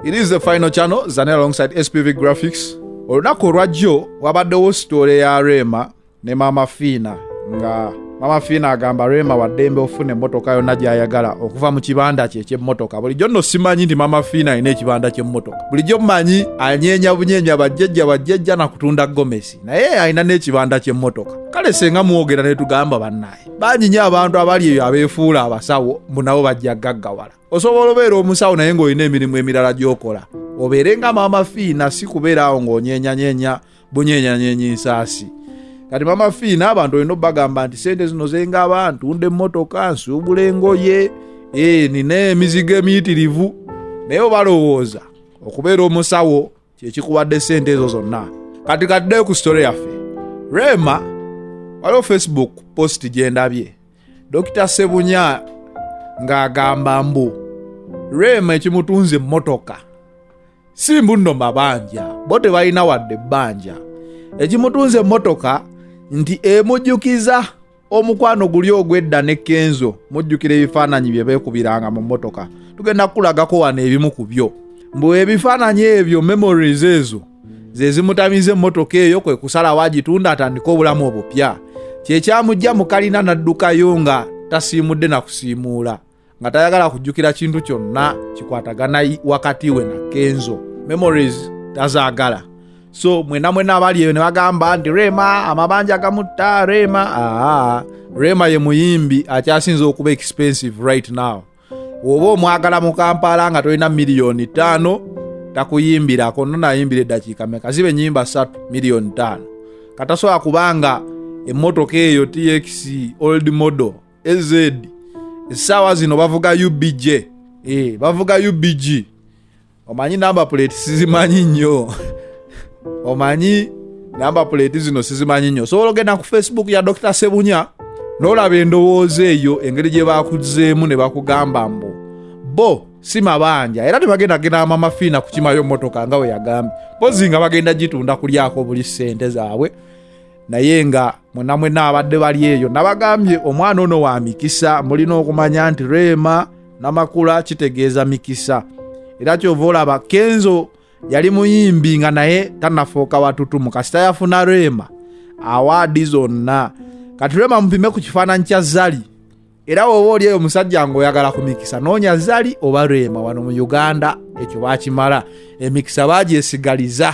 It is the final channel, Zanel alongside SPV Graphics. Olunaku olwajjo wabaddewo sitoole ya Rema ne Mama Fina nga Mama Fina agamba Rema waddembe ofuna emmotoka yonna gy'ayagala okuva mu kibanda kye eky'emmotoka. Bulijjo nno simanyi nti Mama Fina alina ekibanda ky'emmotoka. Bulijjo mmanyi anyeenya bunyeenya bajjajja bajjajja na kutunda gomesi naye alina n'ekibanda ky'emmotoka. Kale senga mwogera ne tugamba bannaye. bangi nyo abantu abali eyo abeefuula abasawo mbu nabo bajja gaggawala osobola obeera omusawo naye ng'olina emirimu emirala gy'okola obeere nga maama fiina si kubeera awo ng'onyenyanyenya bunyenyanyenyi nsaasi kati maama fiina abantu olina obagamba nti sente zino zenga abantu nde emmotoka nsuubula engoye e, nina emizigo emiyitirivu naye obalowooza okubeera omusawo kyekikuwadde sente ezo zonna kati kaddeyo ku sitole yaffe rema waliwo facebook post gyendabye dokita sebunya ng'agamba mbu rema ekimutunze emmotoka si mbunno mabanja bo tebalina wadde ebbanja ekimutunze emmotoka nti emujjukiza omukwano guli ogwedda ne kenzo mujjukira ebifaananyi bye beekubiranga mu mmotoka tugenda kukulagako wano ebimu ku byo mbu ebifaananyi ebyo memories ezo ze zimutamiza emmotoka eyo kwe kusalawo agitunda atandike obulamu obupya kyekyamujja mu kalina n'addukayo nga tasiimudde na kusiimuula nga tayagala kujjukira kintu kyonna kikwatagana wakati we na kenzo memories tazaagala so mwena mwena abali eyo ne bagamba nti rema amabanja gamutta rema aa rema ye muyimbi akyasinza okuba expensive right now oba omwagala mu kampala nga tolina miliyoni ttaano takuyimbirako nonayimbira eddakiika meka ziba enyimba satu miliyoni ttaano katasobola kubanga emmotoka eyo tx old model ez essaawa zino bavuga ubj eh, bavuga ubg omanyi namba plate sizimanyi nnyo omanyi namba plate zino sizimanyi nnyo osobola ogenda ku facebook ya dr sebunya nolaba endowooza eyo engeri gye bakuzeemu ne bakugamba mbu bo si mabanja era tebagenda genda amama fiina kukimayo motoka nga weyagambye mpozi nga bagenda gitunda kulyako buli sente zaabwe naye nga mwena mwena abadde bali eyo nabagambye omwana ono wa mikisa mulina okumanya nti reema namakula kitegeeza mikisa era kyova olaba kenzo yali muyimbi nga naye tanafuuka watutumu kasita yafuna reema awaadi zonna kati reema mupime ku kifaananyi kya zali era woba oli eyo omusajja ngaoyagala ku mikisa noonya zali oba reema wano mu uganda ekyo bakimala emikisa bagyesigaliza